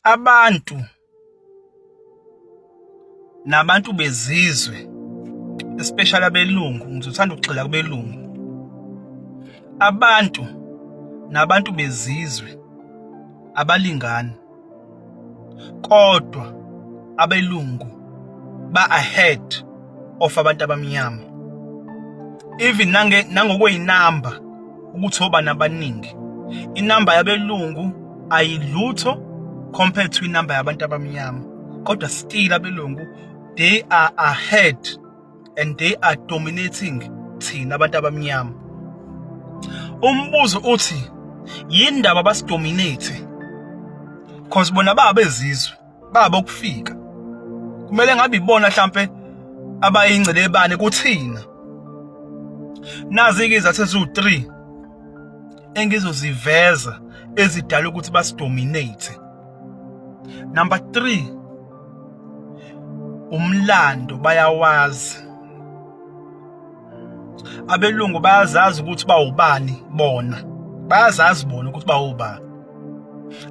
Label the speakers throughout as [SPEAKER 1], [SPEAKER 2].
[SPEAKER 1] abantu nabantu bezizwe especially abelungu ngizothanda ukugxila kubelungu abantu nabantu bezizwe abalingani kodwa abelungu ba ahead of abantu abamnyama even nange nangokweyinamba ukuthi obani abaningi inamba yabelungu ayilutho compared to inamba yabantu abamnyama kodwa still abelungu they are ahead and they are dominating thina abantu abamnyama umbuzo uthi yindaba basidominate cause bona babezizwe baba ukufika kumele ngabe ibona mhlampe abayingcelebane kuthina nazi-ke izathu eziwu-3 engizoziveza ezidala ukuthi basidominate number 3 umlando bayawazi abelungu bayazazi ukuthi bawubani bona bayazazi bona ukuthi bawubani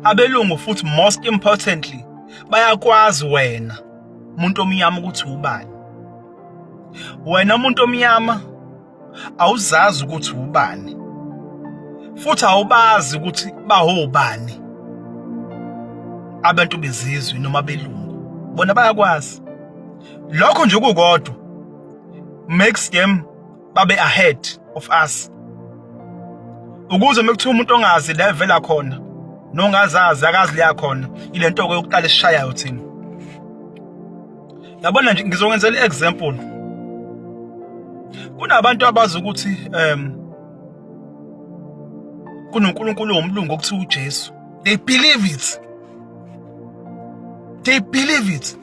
[SPEAKER 1] abelungu futhi most importantly bayakwazi wena umuntu omnyama ukuthi ubani wena umuntu omnyama awuzazi ukuthi ubani futhi awubazi ukuthi bahobani abantu bezizwe noma belungu bona bayakwazi lokho nje kukodwa next game babe ahead of us ukuze mekuthiwa umuntu ongazi la evela khona nongazazi akazi leya khona ile nto yokuqala esishayayo thina yabona nje ngizokwenzela i-example kunabantu abazi ukuthi um kunonkulunkulu womlungu okuthiwa ujesu they believe it they believe it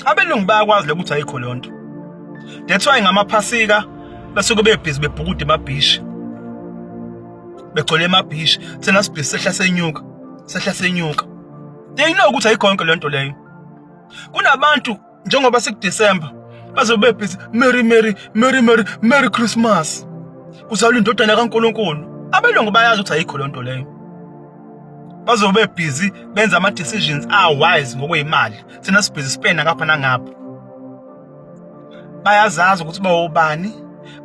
[SPEAKER 1] abelungu bayakwazi lokuthi ayikho lonto that's why ngamaphasika basuke bebhizi bebhukude emabhishi begcwele emabhishi thina sibhizi sehla senyuka sehla senyuka they know ukuthi ayikho yonke lento leyo kunabantu njengoba sikuDecember bazobe bebhizi Merry Merry Merry Merry Merry Christmas kuzalwa indodana kaNkuluNkulu abelungu bayazi ukuthi ayikho lento leyo bazobe busy benza ama decisions are wise ngokwemali sina sibhizi spend ngapha nangapha bayazazi ukuthi bawobani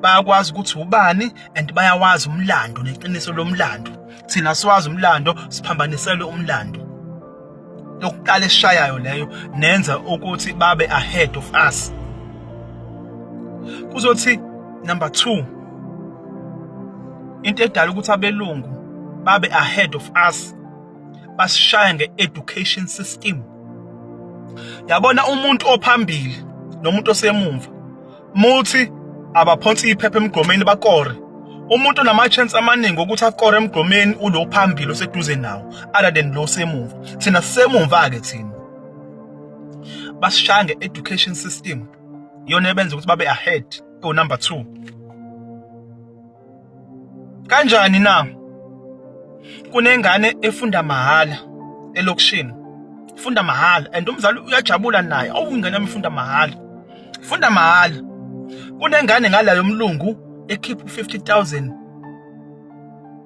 [SPEAKER 1] bayakwazi ukuthi ubani and bayawazi umlando neqiniso lomlando thina siwazi umlando siphambanisele umlando yokuqala eshayayo leyo nenza ukuthi babe ahead of us kuzothi number 2 into edala ukuthi abelungu babe ahead of us basishaya nge-education system yabona umuntu ophambili nomuntu osemumva Muthi abaphonsi iphepha emgqomeni bakore. Umuntu onama-chance amaningi okuthi akore emgqomeni ulo phambili oseduze nawo other than lo semumva. Thina sisemumva-ke thina. Basishaya nge-education system yona ebenza ukuthi babe ahead o-number two. Kanjani na? Kunengane efunda mahhala elokishini. Funda mahhala and umzali uyajabula naye. Awu ingane yami ifunda mahhala. Funda mahhala. Kunengane ngala yomlungu ekhipha 50000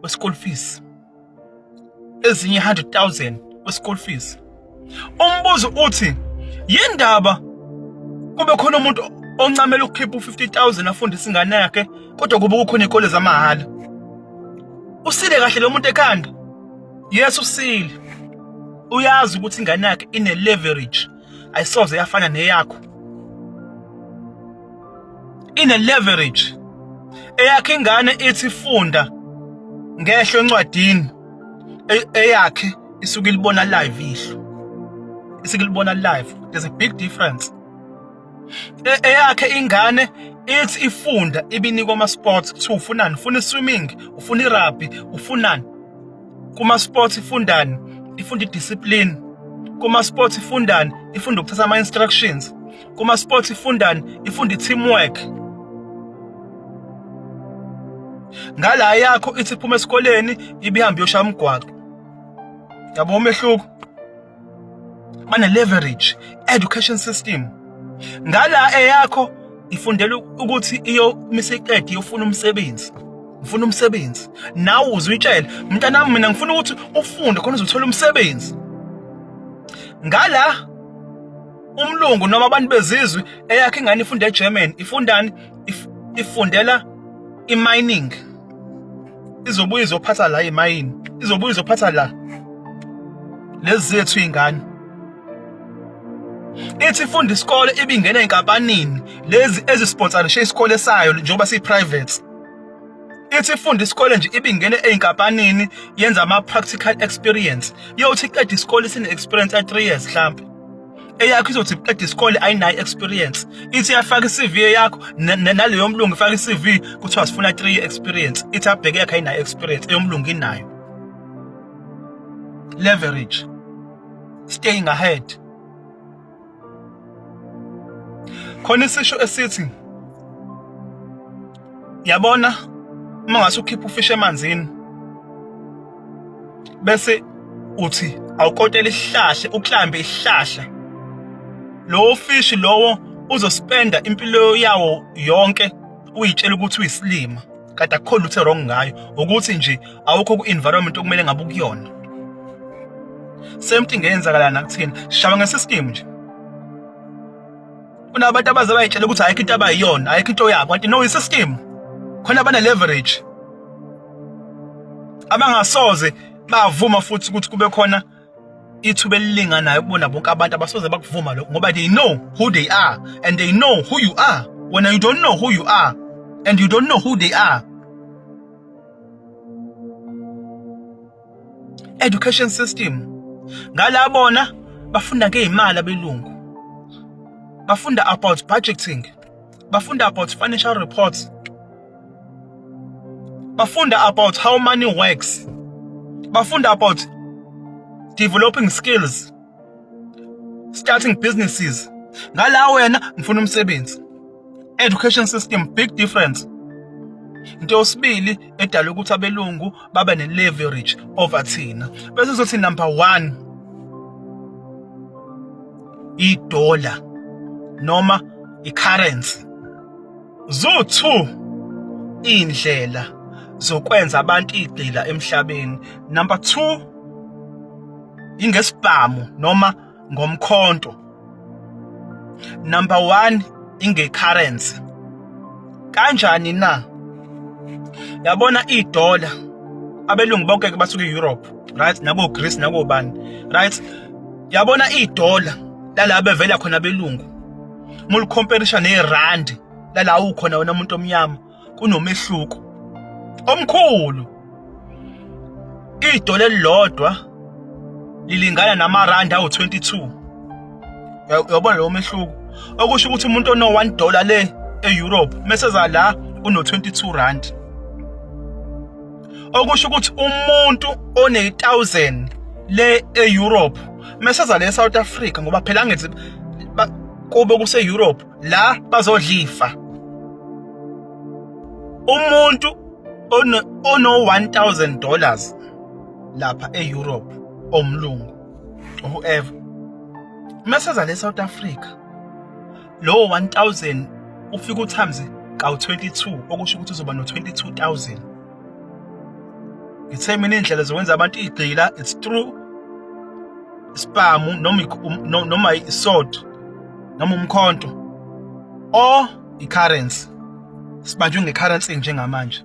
[SPEAKER 1] we school fees. ezinye 100,000 we school fees umbuzo uthi yindaba kube khona umuntu oncamela ukukhipha u50000 afundisa ingane yakhe kodwa kube kukhona ikole zamahhala usile kahle lo muntu ekhanda yes usile uyazi ukuthi ingane yakhe ine leverage ayisoze yafana neyakho ine leverage eyakhe ingane ithi funda ngehlo encwadini e-, eyakhe isuke ilibona live ihlo isuke ilibona live there's a big difference e-, eyakhe ingane ithi ifunda ibinikwa ama sports kuthiwa ufunani ufuna swimming ufuna rugby ufunani kuma sports ifundani ifunda idiscipline kuma sports ifundani ifunda ukuthatha ama instructions kuma sports ifundani ifunda teamwork ngala yakho ithi phuma esikoleni ibihambe yoshaya umgwaqo yabo umehluko bane-leverage education system ngala eyakho ifundela ukuthi iyomisa iqede iyofuna umsebenzi ngifuna umsebenzi nawe uzuyitshela mntanami mina ngifuna ukuthi ufunde khona uzothola umsebenzi ngala umlungu noma abantu bezizwe eyakhe ingane ifunda eGerman ifundani ifundela imining izobuye izophatha la emayini izobuye izophatha la lezi zethu ingane ithi ifunda isikole ibingena enkampanini lezi ezisponsorishe isikole sayo njengoba siyi-private ithi ifunda isikole nje ibingene ey'nkampanini yenza ama-practical experience yothi iqeda isikole sine-experience ya-three years mhlampe eyakho izothi iqeda isikole ayinayo experience ithi yafaka iCV yakho naleyo mlungu ifaka iCV kuthiwa sifuna 3 experience ithi abheke yakhe ayinayo experience eyomlungu inayo leverage staying ahead khona isisho esithi Yabona uma ngase ukhipha ufish emanzini bese uthi awukotela isihlahla uklambe isihlahla lowo fish lowo uzospenda impilo yawo yonke uyitshela ukuthi uyisilima kade akukho lutho wrong ngayo ukuthi nje awukho ku-environment okumele ngabe ukuyona same thing eyenzakala nakuthina sishaba ngesisitimu nje kunabantu abaze bayitshela ukuthi ayikho into abayiyona ayikho into yabo kanti no i-system khona bane-leverage abangasoze bavuma futhi ukuthi kube khona ithuba elilinganayo kubona bonke abantu abasoze bakuvuma lokho ngoba they know who they are and they know who you are when you don't know who you are and you don't know who they are education system ngala bona bafunda ngeimali abelungu bafunda about budgeting bafunda about financial reports bafunda about how money works bafunda about developing skills starting businesses ngala wena ngifuna umsebenzi education system big difference into yosibili edala ukuthi abelungu babe ne-leverage over thina bese sothi number one idola noma i-currency Zuthu indlela zokwenza abantu igcila emhlabeni. Number 2 ingesibhamu noma ngomkhonto. Number 1 ingecurrency. Kanjani na? Yabona idollar abelungu bonke ke basuka eEurope, right? Nabo Greece nabo bani, right? Yabona idollar lalabo bevela khona belungu mulikhomperisha nerandi lala ukhona wena umuntu omnyama kunomehluko omkhulu idole elilodwa lilingana namarandi awu-22 uyabona lowo mehluko okusho ukuthi umuntu ono-1 dollar le e-europe meseza la uno-22 rand okusho ukuthi umuntu one-1000 le e-europe meseza le south africa ngoba phela angithi kube kuse-europe la bazodlifa umuntu ono-1000 dollars lapha e-europe omlungu whoever meseza le south africa lowo 1000 ufika uthamze kawu-22 okusho ukuthi uzoba no-22000 ngithe mina iy'ndlela zokwenza abantu igxila it's true ispamu noma isod noma umkhonto or i-currency sibanjwe nge-currency njengamanje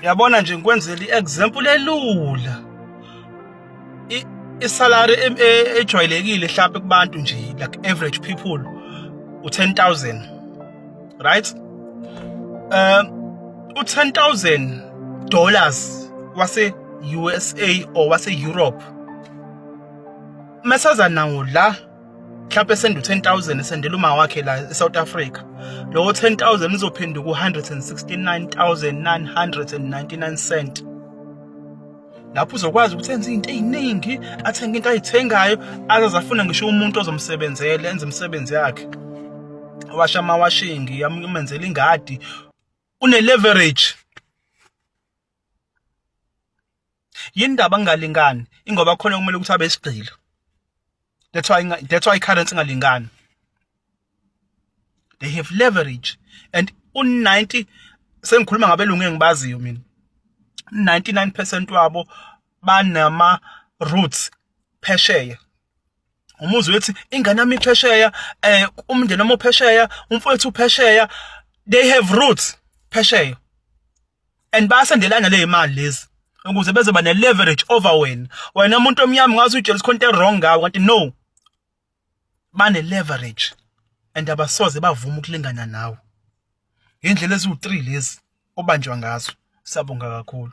[SPEAKER 1] Uyabona nje ngikwenzela i-example elula. I-salary e, e, ejwayelekile mhlawumbe kubantu nje like average people u-10000 right? Um u-10000 dollars wase USA or wase Europe mesaza nawo la mhlawumbe senda u-10000 esendela uma wakhe la e-south africa lowo 10000 uzophinda ku-169999 cent lapho uzokwazi ukuthi enze into eziningi athenge into ayithengayo azazafuna ngisho umuntu ozomsebenzela enze imisebenzi yakhe washa amawashingi amenzela ingadi une leverage yini ndaba kungalingani ingoba khona kumele ukuthi abe isigqila that's why that's why currency ingalingani they have leverage and u90 sengikhuluma ngabelungu engibaziyo mina 99% wabo banama roots phesheya umuzi wethi ingane yami phesheya eh umndeni wami phesheya umfowethu phesheya they have roots phesheya and bayasendelana le imali lezi ukuze bezoba ne leverage over wena wena umuntu omnyama ngazi ujealous khonto wrong ngawo kanti no bane leverage and abasoze bavuma ukulingana nawe indlela eziwu3 lezi obanjwa ngazo sabonga kakhulu